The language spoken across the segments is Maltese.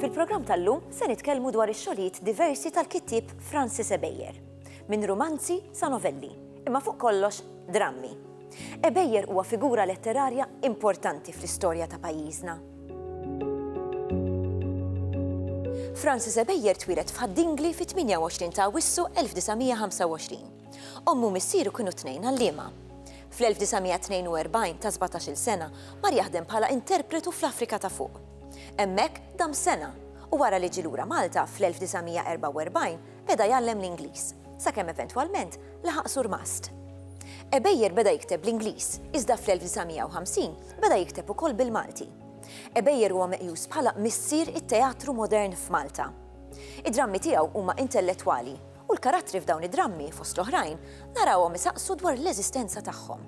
Fil-programm tal-lum se nitkellmu dwar ix-xogħlijiet diversi tal-kittieb Francis Ebejer, minn romanzi sa novelli, imma fuq kollox drammi. Ebejer huwa figura letterarja importanti fl-istorja ta' pajjiżna. Francis Ebejer twilet f'Ħaddingli fit-28 ta' Wissu 1925. Ommu u missieru kienu t-tnejn għalliema. Fl-1942, ta' sbatax-il sena, mar jaħdem bħala interpretu fl-Afrika ta' Fuq. Hemmhekk dam sena, u wara li ġie lura Malta fl-1944, beda jgħallem l-Ingliż, sakemm eventwalment laħaq surmast. Ebeier beda jikteb bl-Ingliż, iżda fl-1950 beda jikteb ukoll bil-Malti. Ebeier huwa meqjus bħala missier it-teatru modern f'Malta. Id-drammi tiegħu huma intellettwali U l-karattri f'dawn id-drammi, fost l-oħrajn, narawhom isaqsu dwar l-eżistenza tagħhom.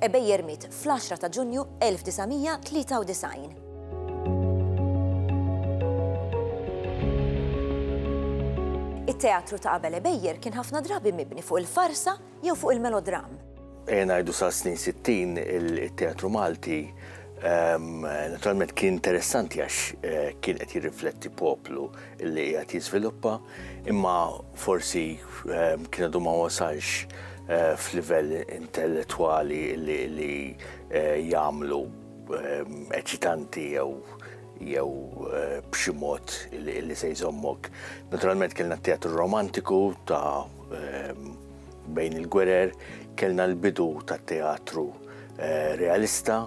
Ebejjer miet fl-10 ta' Ġunju 1993. It-teatru ta' qabel Ebejjer kien ħafna drabi mibni fuq il-farsa jew fuq il-melodramm. Ejja ngħidu sa snin 60 il-teatru Malti ehm, naturalment kien interessanti għax eh, kien qed jirrifletti poplu li qed jiżviluppa, imma forsi ehm, kien għadu ma wasalx eh, f'livell intellettwali li eh, jagħmlu ehm, eċitanti jew jew b'xi mod li se jżommok. Naturalment kellna teatru romantiku ta' Bejn il-gwerer kellna l-bidu tat-teatru eh, realista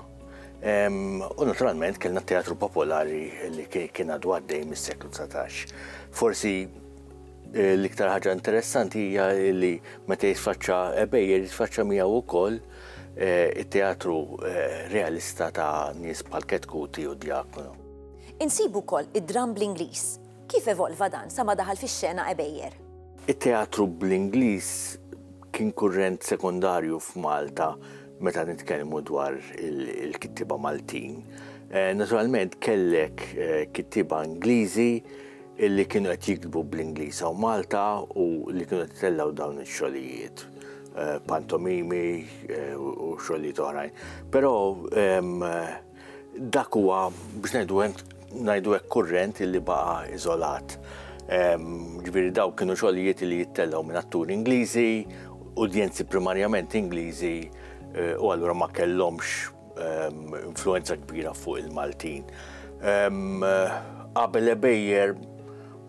u naturalment kellna teatru popolari li kien għadu għaddej mis-seklu 19. Forsi eh, l-iktar ħaġa interessanti hija li meta jitfaċċa ebejjer jitfaċċa miegħu wkoll eh, it-teatru realista ta' nies bħal Ketkuti u Diakono. Insibu wkoll id-dram bl-Ingliż Kif evolva dan sa ma daħal fix-xena Għebejjer? It-teatru bl-Ingliż kien kurrent sekondarju f'Malta meta nitkellmu dwar il-kittieba Maltin. Naturalment kellek kittieba Ingliżi li kienu qed jiktbu bl-Ingliż hawn Malta u li kienu qed itellgħu dawn ix-xogħlijiet pantomimi u xogħlijiet oħrajn. Però Dak huwa biex ngħidu ngħidu hekk kurrent li baqa' iżolat. Ġifieri dawk kienu xogħlijiet li jittellgħu minn atturi Ingliżi, udjenzi primarjament Ingliżi eh, u allura ma kellhomx influenza kbira fuq il-Maltin. Qabel ebejjer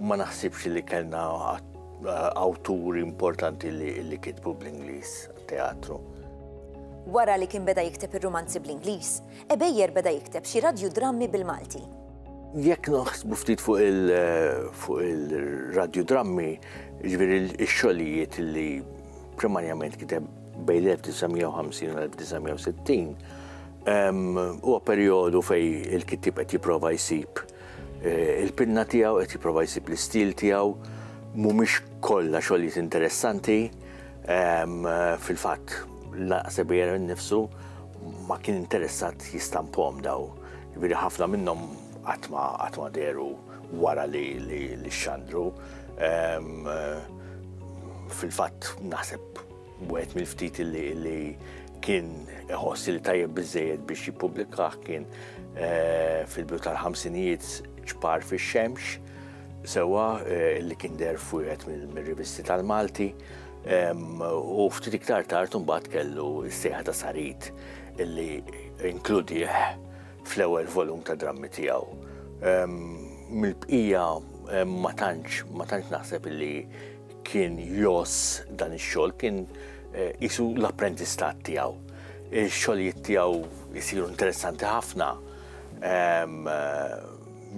ma naħsibx li kellna awturi importanti li kitbu bl-Ingliż teatru. Wara li kien beda jikteb ir-rumanzi bl-Ingliż, Ebejer beda jikteb xi radjudrammi bil-Malti. Jekk naħsbu ftit fuq il-radjudrammi, ġifieri x-xogħlijiet li primarjament kiteb bejn 1950 u 1960, huwa perjodu fej il-kittib qed jipprova jsib eh, il-pinna tiegħu, qed jipprova jsib l-istil tiegħu, mhumiex kollha xogħlijiet interessanti. Fil-fatt, naqseb jera nifsu ma kien interessat jistampom daw. Viri ħafna minnom għatma għatma deru wara li li xandru. Fil-fatt, naħseb wieħed mill-ftit li kien iħossi li tajjeb bizzejed biex jipublikaħ kien eh, fil-bidu tal-ħamsinijiet ċpar fil-xemx sewwa li kien deher f'wieħed mir-rivisti tal-Malti u ftit iktar tard imbagħad kellu s-sejħa ta' Sarit illi inkludih fl-ewwel volum ta' drammi tiegħu. Mill-bqija ma tantx ma tantx naħseb illi kien jos dan ix-xogħol kien eh, isu l-apprentistat tiegħu. Ix-xogħlijiet tiegħu jisiru interessanti ħafna. Ehm,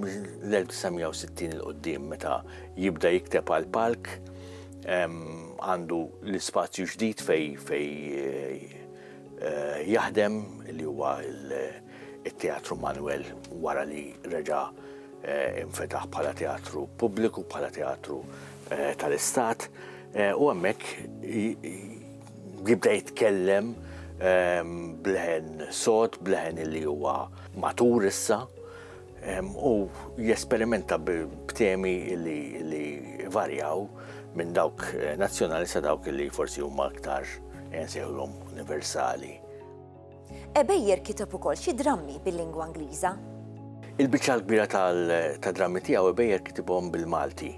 mill-1960 il qudiem meta jibda jikteb għal palk għandu l-ispazju ġdid fej fej eh, jaħdem li huwa il-Teatru Manuel wara li reġa eh, infetaħ bħala teatru pubbliku, bħala teatru eh, tal-istat u għemmek jibda jitkellem bleħen sot, bleħen li huwa matur issa u jesperimenta b'temi li varjaw minn dawk eh, nazzjonali sa dawk li forsi huma aktar eh, nsejħulhom universali. Ebejjer kiteb ukoll xi drammi bil-lingwa Ingliża. Il-biċċa l-kbira tal-drammi tiegħu Ebejjer kitibhom bil-Malti.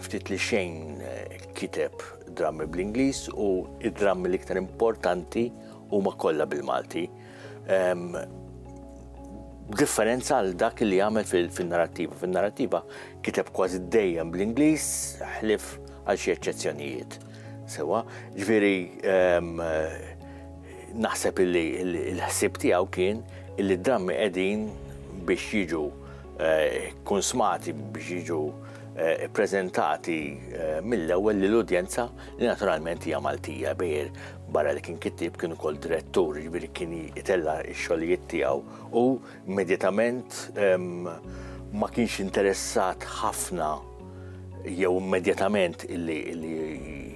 Ftit li xejn eh, kiteb drammi bl-Ingliż u id-drammi l-iktar importanti huma kollha bil-Malti. B'differenza għal dak li għamel fin-narrattiva. Fin-narrattiva kiteb kważi dejjem bl-Ingliż ħlif għal xi eċċezzjonijiet. Sewa, ġifieri naħseb illi l-ħsieb tiegħu kien illi d-drammi qegħdin biex jiġu eh, konsmati biex jiġu eh, ppreżentati eh, mill-ewwel lill-udjenza li naturalment hija Maltija bejr barra li kien kittib kien ukoll direttur, jiġifieri kien jitella x-xogħlijiet tiegħu u immedjatament ehm, ma kienx interessat ħafna jew immedjatament illi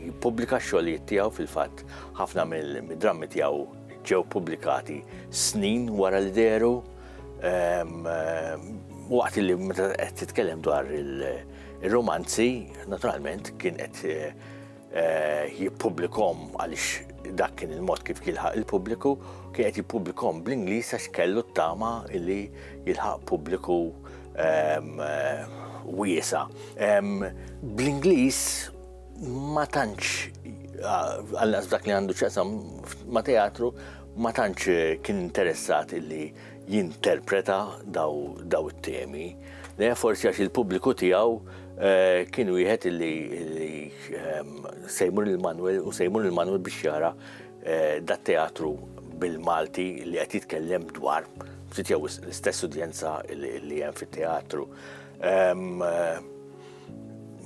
jippubblika x-xogħlijiet tiegħu fil-fatt ħafna mill-drammi tiegħu ġew pubblikati snin wara li deru ehm, waqt li meta qed titkellem dwar il- Ir-rumanzi, naturalment, kien qed eh, jippubblikom għaliex dak kien il-mod kif jilħaq il-pubbliku, kien qed jippubblikom bl-Ingliż għax kellu t-tama li jilħaq pubbliku ehm, eh, wiesa. Ehm, Bl-Ingliż ma tantx għal dak li għandu ċesam ma teatru ma tantx kien interessat illi jinterpreta daw it-temi, le forsi għax il-pubbliku tiegħu eh, kien wieħed li ehm, sejmur il-Manuel u sejmur il-Manuel biex jara eh, dat teatru bil-Malti li qed jitkellem dwar ftit jew l-istess udjenza li hemm fit-teatru. Ehm, eh,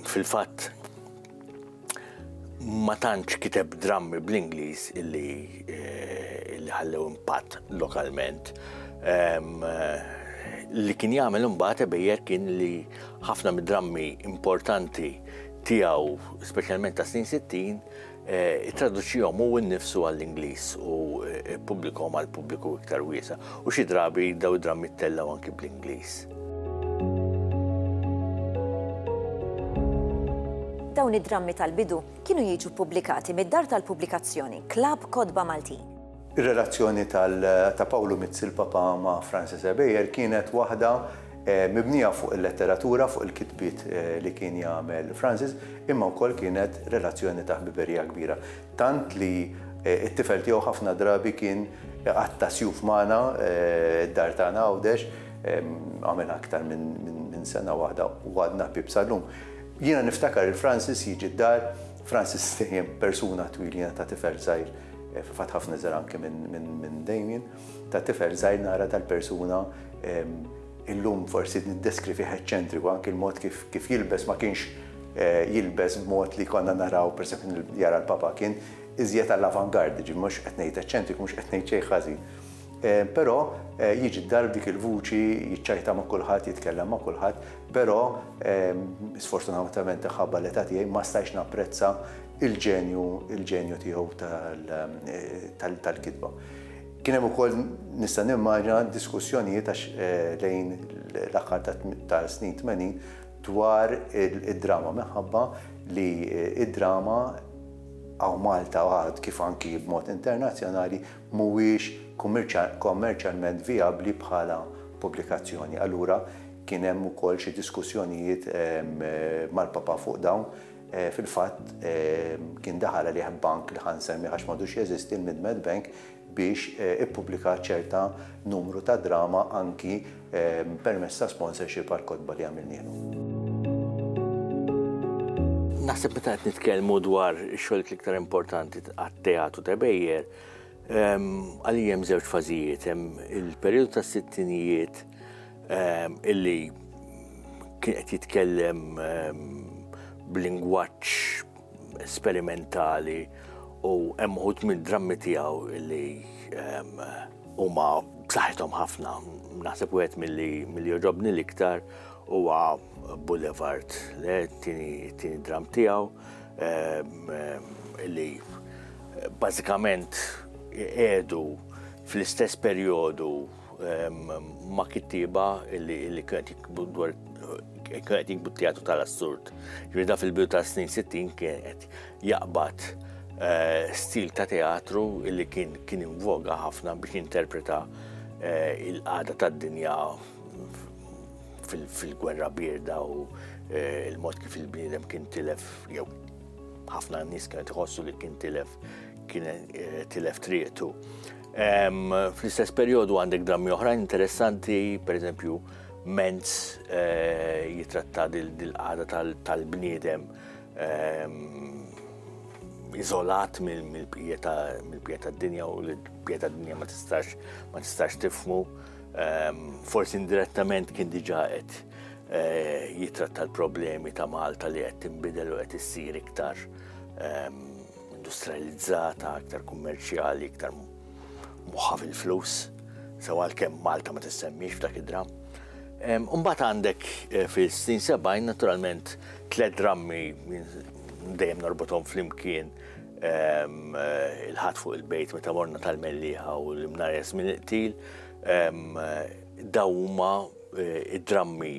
fil-fatt ma tantx kiteb drammi bl-Ingliż illi eh, illi ħallew impatt lokalment. Li kien jagħmel imbagħad ebejjer kien li ħafna mid-drammi importanti tiegħu, speċjalment ta' snin 60, eh, traduċihom u nnifsu għall-Ingliż u eh, pubblikom għall-pubbliku iktar wiesa. U xi drabi dawn id-drammi ttellgħu anki bl-Ingliż. Dawn id-drammi tal-bidu kienu jiġu ppubblikati mid-dar tal-pubblikazzjoni Klabb Kotba Maltin. Ir-relazzjoni ta' Pawlu Mizzi l-Papa ma' Francis Ebejer kienet waħda mibnija fuq il-letteratura, fuq il-kitbiet li kien jagħmel Francis, imma wkoll kienet relazzjoni ta' ħbiberija kbira. Tant li t-tifel tiegħu ħafna drabi kien iqatta' sjuf magħna, d-dar tagħna Għawdex, għamilha aktar minn sena waħda u għadna ħbieb sal-lum. Jiena niftakar lil Francis jiġi d-dar, Francis dejjem persuna twil jiena ta' tifel żgħir, fil-fatt ħafna iżgħar anke minn Damien, ta' tifel żgħir nara dal-persuna, Illum forsi niddeskri fih eċċentriku, anki l-mod kif kif jilbes ma kienx jilbes b'mod li konna naraw, pereżempju jara l-Papa kien iżjed għall-avant-garde, jiġifieri mhux qed ngħid eċċentriku, mhux qed ngħid xejn ħażin. Però jiġi d-dar b'dik il-vuċi, jiċċajta ma' kulħadd, jitkellem ma' kulħadd, però sfortunatament imħabba l-età tiegħi ma stajtx napprezza l-ġenju l-ġenju tiegħu tal-kitba. Kien hemm ukoll, nista' nimmaġina, diskussjonijiet għax lejn l-aħħar tas-snin tmenin dwar id-drama minħabba li d-drama hawn Malta għad kif anki b'mod internazzjonali mhuwiex kommerċjalment vijabbli bħala pubblikazzjoni. Allura kien hemm ukoll xi diskussjonijiet mal-Papa fuq dawn. Fil-fatt, kien daħal għalih bank li ħa nsemmih għax m'għadux jeżisti, il-Midmed Bank, biex ippubblika ċerta numru ta' drama anki permezz ta' sponsorship għall-kotba li għamilnielu. Naħseb meta qed nitkellmu dwar ix-xogħlijiet l-iktar importanti għat-teatru ta' Bejjer, għalija hemm żewġ fażijiet, hemm il-perjodu tas-sittinijiet Ehm, illi kien qed jitkellem ehm, b'lingwaġġ sperimentali u hemm uħud minn drammi tiegħu illi ehm, huma b'saħħithom ħafna. Naħseb wieħed milli milli joġobni l-iktar huwa Boulevard, le tieni dram tiegħu illi bażikament qiegħdu fl-istess perjodu ma' kittieba li kienet jikbu dwar kienet jikbu teatru tal-assurd. Ġrida fil-bidu ta' snin 60 kienet jaqbad eh, stil ta' teatru li kien kien invoga ħafna biex interpreta eh, il-qada tad-dinja fil-gwerra birda u eh, il-mod kif il-bniedem kien tilef jew ħafna nies kienet iħossu li kien tilef kien tilef triqtu. Fl-istess perjodu għandek drammi oħrajn interessanti, per eżempju, Menz eh, jitratta dil-qada tal-bniedem ehm, izolat mill-bqija tad-dinja u l-bqija tad-dinja ma tistax ma tistax tifmu. Ehm, forsi indirettament kien diġa qed eh, jitratta l-problemi ta' Malta li qed tinbidel u qed issir iktar ehm, industrializzata, iktar kummerċjali, iktar moħħa fil-flus, sew għalkemm Malta ma tissemmix f'dak id-dram. Umbat għandek eh, fil-67 naturalment tlet drammi dejjem narbotom fl-imkien eh, il-ħat fuq il-bejt meta morna tal-melliħa u l-imnares minn il-qtil dawma eh, id-drammi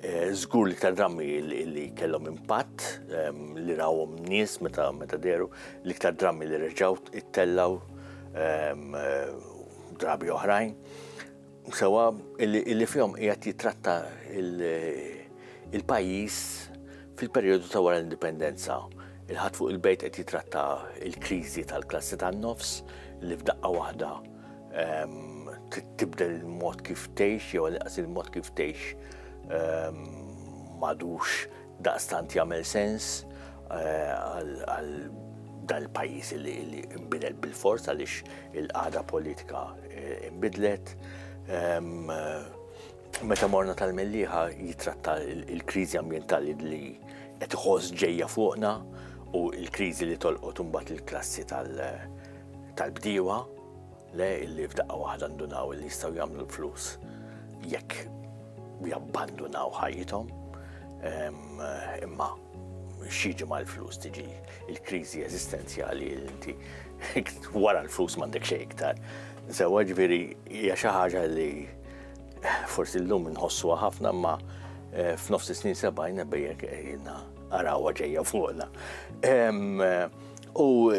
Żgur li iktar drammi li kellhom impatt ehm, li rawhom nies meta meta deru, li iktar drammi li reġgħu ittellaw ehm, drabi oħrajn. Sewa illi fihom qiegħed jitratta il-pajjiż fil-perjodu ta' wara l-indipendenza. Il-ħadd fuq il-bejt qed jitratta il-kriżi tal-klassi tan-nofs li f'daqqa waħda Tibdel il-mod kif tgħix jew inqas il-mod kif tgħix madux daqstant jagħmel sens għal dal-pajjiż li imbidel bil-fors għaliex il-qagħda politika imbidlet. Meta morna tal-melliħa jitratta il-kriżi ambjentali li qed iħoss ġejja fuqna u l-kriżi li tolqot imbagħad il-klassi tal- tal-bdiewa le illi f'daqqa waħda ndunaw illi jistgħu jagħmlu l-flus jekk jabbandunaw ħajjithom imma xieġi ma l-flus tiġi il-krizi eżistenzjali inti wara l-flus mandek xej iktar. Sewa ġviri hija xi ħaġa li forsi llum nħossuha ħafna ma eh, f'nofs snin sebajna bejjek ejna eh, arawa ġejja fuqna. Eh, U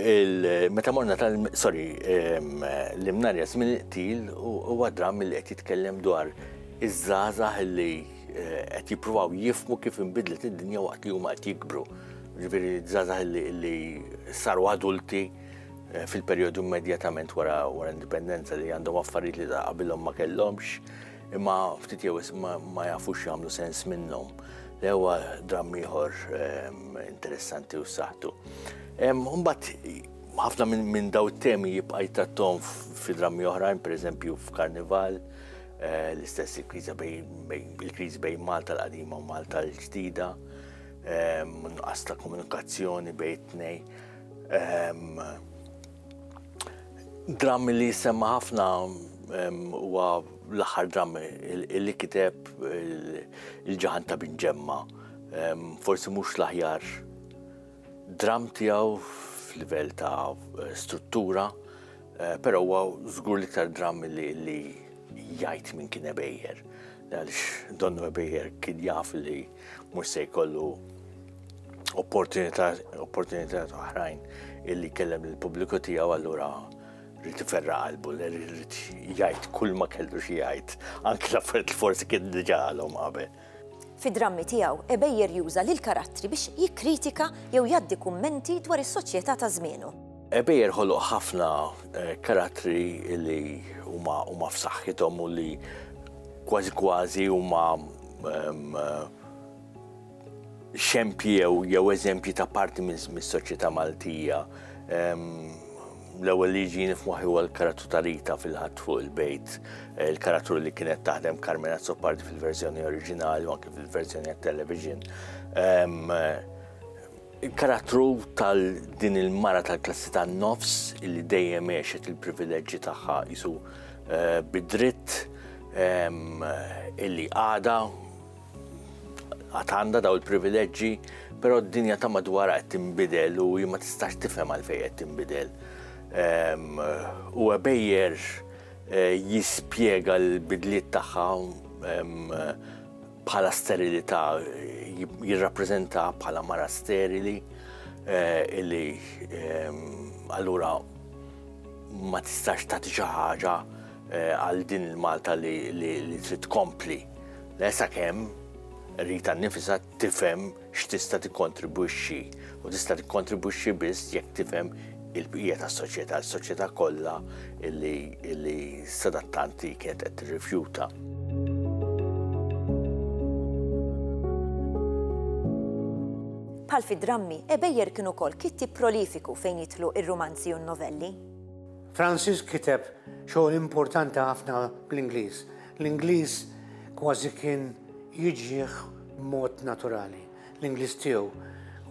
meta morna tal sorry l-imnarja żmien il-qtil huwa dramm li qed jitkellem dwar iż-żgħażagħ li eh, qed jippruvaw jifmu kif inbidlet id-dinja waqt li huma qed jikbru. Ġifieri żgħażagħ li saru adulti eh, fil-perjodu immedjatament wara wara indipendenza li għandhom affarijiet li qabilhom ma kellhomx Imma ftit jew wisq ma jafux jagħmlu sens minnhom. L-ewwa dramm ieħor interessanti u saħtu. Mbagħad ħafna minn daw it-temi jibqa' jtattom fi drammi oħrajn, pereżempju f'Karnival, eh, l-istess il-kriża il-kriżi bejn Malta l-qadima u Malta l-ġdida, ehm, nuqqas ta' komunikazzjoni bejn tnej. Ehm, Dramm li jissemma ħafna huwa l-aħħar dramm li kiteb il-ġaħan ta' bin ġemma. Forsi mhux l-aħjar dramm tiegħu f'livell ta' struttura, eh, però huwa żgur l-iktar dramm li jgħid minn kien ebejjer. Għaliex donnu ebejjer kien jaf li Mhux se jkollu opportunità oħrajn illi kellem il-pubbliku tiegħu allura rrid iferra qalbu, rrid jgħid kull ma kellu xi jgħid, anke l-affarijiet li forsi kien diġà għalhom qabel. Fid-drammi tiegħu, Ebejer juża lil karattri biex jikkritika jew jgħaddi kummenti dwar is-soċjetà ta' żmienu. Ebejer ħoloq ħafna eh, karattri li huma f'saħħithom u li kważi kważi huma xempji jew eżempji ta' parti mis-soċjetà Maltija. L-ewwel li jiġini f'moħħi huwa l-karattru ta' Rita fil-ħadd fuq il-bejt, il-karattru li kienet taħdem Carmena Azzopardi fil-verżjoni oriġinali u anke fil-verżjoni għat-television. Il-karattru tal din il-mara tal-klassi tan-nofs illi dejjem għexet il-privileġġi tagħha qisu eh, bid-dritt ehm, illi għada għad għandha daw il-privileġġi, però d-dinja ta' madwar qed tinbidel u ma tistax tifhem għalfejn qed tinbidel. Ehm, u għabejjer eh, jispjega l-bidliet tagħha ehm, bħala sterilità jirrappreżenta bħala mara sterili eh, illi ehm, allura ma tistax tagħti xi ħaġa eh, għal din il-Malta li trid tkompli. Lesa kemm rita nifisa tifhem x'tista' tikkontribwixxi u tista' tikkontribwixxi biss jekk tifhem il-bqija tas-soċjetà, is-soċjetà kollha li sadattanti kienet qed tirrifjuta. Bħal fid-drammi, Ebejer kien ukoll kittieb prolifiku fejn jidħlu ir-rumanzi u n-novelli. Francis kiteb xogħol importanti ħafna bl-Ingliż, L-Ingliż kważi kien jiġih b'mod naturali. L-Ingliż tiegħu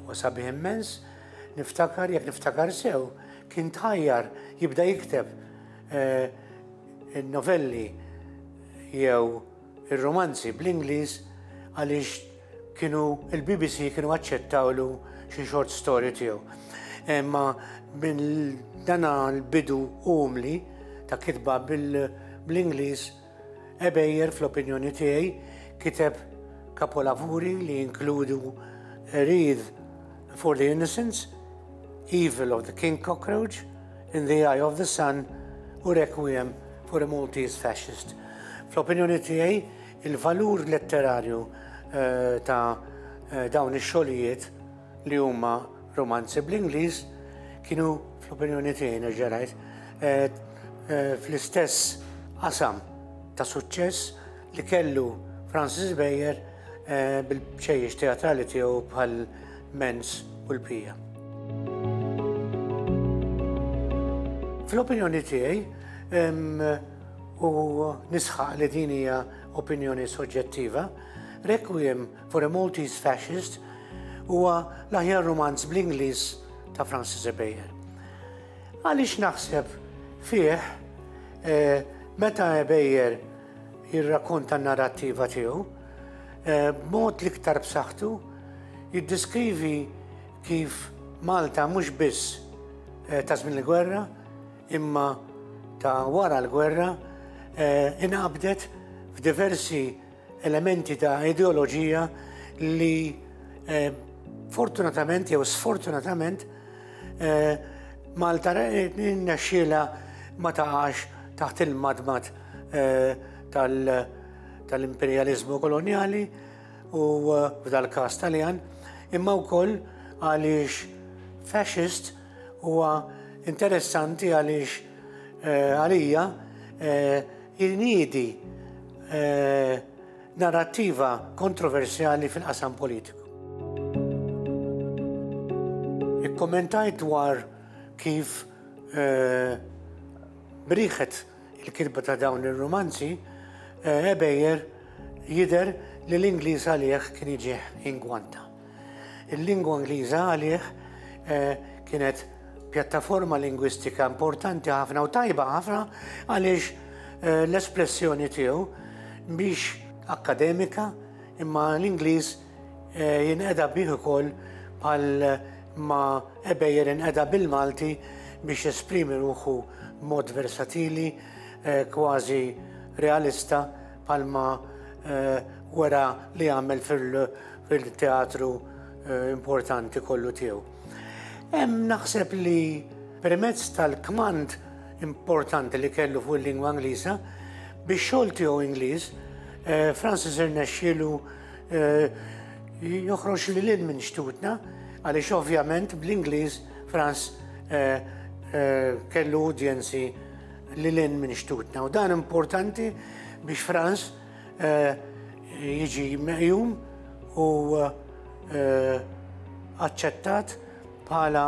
huwa sabiħ immens, niftakar jekk niftakar sew, kien tħajjar jibda jikteb eh, il-novelli jew ir-romanzi bl-Ingliż għaliex Kienu il-BBC kienu aċċettawlu xi short story tiegħu. Imma minn dana l-bidu umli ta' kitba bl-Ingliż Ebejer fl-opinjoni tiegħi kiteb kapolavuri li jinkludu Wreath for the Innocents, Evil of the King Cockroach, In the Eye of the Sun u Requiem for a Maltese Fascist. Fl-opinjoni tiegħi Il-valur letterarju ta' dawn ix-xogħlijiet li huma rumanzi bl-Ingliż kienu fl-opinjoni tiegħi nerġa' ngħid fl-istess qasam ta' suċċess li kellu Francis Beier bil-bċejjeċ teatrali tiegħu bħal Mens u l-Pija. Fl-opinjoni tiegħi, u nisħaq li din hija opinjoni soġġettiva, Requiem for a Maltese Fascist huwa l-aħjar romanz bl-Ingliż ta' Francis Ebejer. Għaliex naħseb fih eh, meta Ebejer jirrakonta n-narrattiva tiegħu, eh, b'mod l-iktar b'saħħtu jiddiskrivi kif Malta mhux biss eh, ta' żmien il-gwerra, imma ta' wara l-gwerra inqabdet f'diversi elementi ta' ideoloġija li fortunatament jew sfortunatament Malta rnexxielha ma taqax taħt il-madmad tal-imperjaliżmu kolonjali u f'dal-każ Taljan, imma wkoll għaliex fascist, Huwa interessanti għaliex eh, għalija eh, jinidi eh, narrattiva kontroversjali fil-qasam politiku. Ikkommentajt dwar kif briħet il-kitba ta' dawn ir-rumanzi, Ebejer jidher li l-Ingliż għalih kien iġih ingwanta. Il-lingwa Ingliża għalih kienet pjattaforma lingwistika importanti ħafna u tajba ħafna għaliex l-espressjoni tiegħu mhix akkademika imma l-Ingliż Eh, jinqeda bih ukoll bħal ma ebejjer inqeda bil-Malti biex esprimi ruħu mod versatili, eh, kważi realista bħal ma eh, wara li għamel fil-teatru importanti kollu tiegħu. Hemm naħseb li permezz tal-kmand importanti li kellu fuq il-lingwa Ingliża biex xogħol tiegħu Ingliż, Francis irnexxielu Eh, joħroġ li l-in minn xtutna, għaliex ovvjament bl-Ingliż Franz eh, eh, kellu udjenzi li l-in minn xtutna. U dan importanti biex Franz jiġi meqjum u aċċettat bħala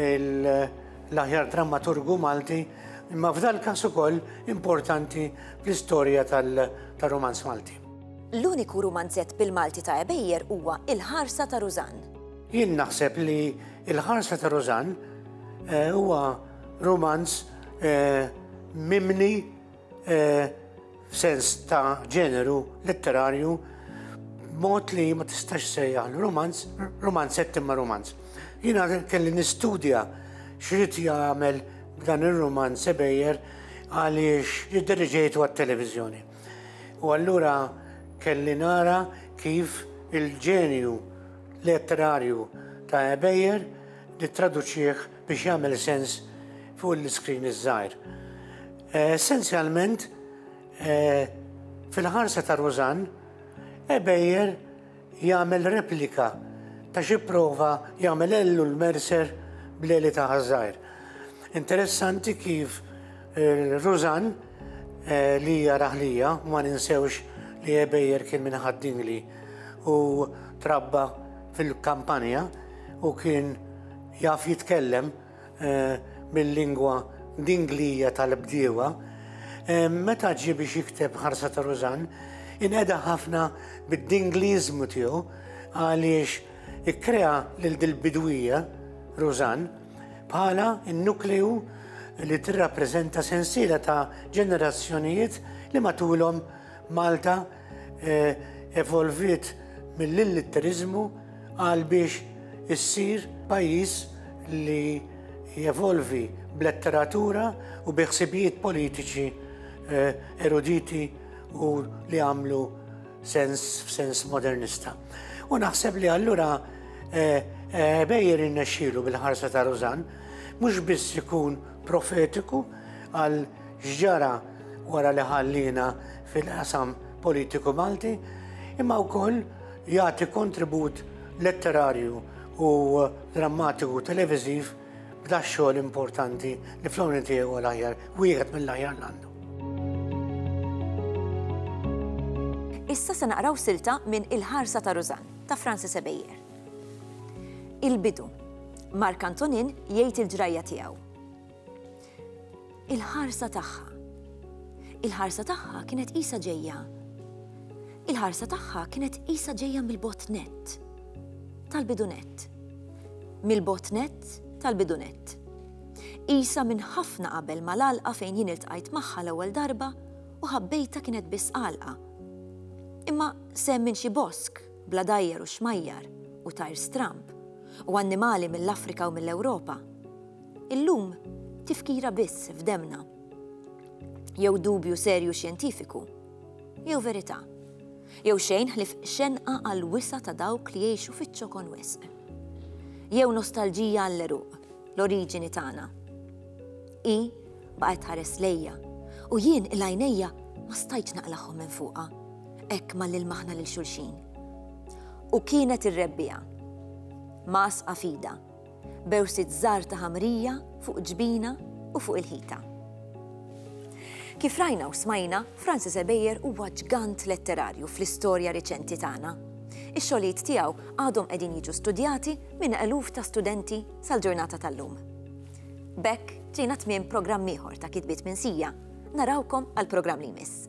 l-aħjar drammaturgu Malti, imma f'dal każ ukoll importanti fl-istorja tal-romanz Malti. L-uniku rumanzett bil-Malti ta' Ebejjer huwa Il-Ħarsa ta' Rużann. Jien naħseb li Il-Ħarsa ta' Rużann eh, huwa rumanz eh, mimni eh, f'sens ta' ġeneru letterarju mod li ma tistax sejjaħ romanz, romanzett imma romanz. Jina kelli nistudja xrit jagħmel dan ir-romanz sebejjer għaliex jidderġejtu għat-televiżjoni. U allura kelli nara kif il-ġenju letterarju ta' Ebejer nittraduċih biex jagħmel sens fuq l-iskrin iż-żgħir. Essenzjalment, fil-ħarsa ta' Rużann, Ebejer jagħmel replika ta' xi prova jagħmel ellu l-mercer bl-għeli ta' ħaż-żgħir. Interessanti kif eh, Rużan eh, li hija raħlija ma ninsewx li ebejjer kien minn ħaddingli u trabba fil-kampanja u kien jaf jitkellem bil-lingwa Dinglija tal-bdiewa, meta ġie biex jikteb Ħarsa ta' Rużann, inqeda ħafna bid-Dingliżmu tiegħu għaliex ikkrea lil dil-bidwija, Rużann, bħala n-nukleu li tirrappreżenta sensiela ta' ġenerazzjonijiet li matulhom Malta eh, evolviet mill-illitterizmu għal biex issir pajjiż li jevolvi b'letteratura u biħsibijiet politiċi eh, eruditi u li għamlu sens f'sens modernista. U naħseb li allura eh, eh, bejjer innexxilu bil-ħarsa ta' Rozan mhux biss ikun profetiku għal x'ġara wara li ħalliena fil-qasam politiku Malti, imma wkoll jagħti kontribut letterarju u drammatiku televiżiv b'da xogħol importanti li fl-għoni tiegħu l-aħjar, wieħed mill-aħjar l-għandu. Issa se naqraw silta minn Il-ħarsa ta' Rużan ta' Francis Ebejer. Il-bidu. Mark Antonin jgħid il-ġrajja tiegħu. Il-ħarsa tagħha. Il-ħarsa tagħha kienet qisha ġejja. Il-ħarsa tagħha kienet qisha ġejja mill-botnet tal-bidunet. Mill-botnet tal-bidunet. Isa minn ħafna qabel ma l-alqa fejn jien iltqajt magħha l-ewwel darba u ħabbejta kienet biss qalqa. Imma sem minn xi bosk bla dajjer u xmajjar u tajr stramp u annimali mill-Afrika u mill-Ewropa. Illum, tifkira biss f'demmna. Jew dubju serju xjentifiku, jew verità. Jew xejn ħlief xenqa għal wisa ta' dawk li jgħixu fiċ-ċokon wisq. Jew nostalġija għall-għeruq, l-oriġini tagħna. Hi baqgħet tħares lejja u jien il-għajnejja ma stajtx naqlagħhom minn fuqha, hekk ma lilmaħna lil xulxin. U kienet ir-rebbiegħa. Mgħassqa f'idha. b'għewsiet żgħar ta' ħamrija fuq il-ġbina u fuq il-ħita. Kif rajna u smajna, Francis Ebejer huwa ġgant letterarju fl-istorja riċenti tagħna. Ix-xogħlijiet tiegħu għadhom qegħdin jiġu studjati minn eluf ta' studenti sal-ġurnata tal-lum. B'hekk ġejna tmiem programm ieħor ta' kitbiet minsija. Narawkom għall-programm li jmiss.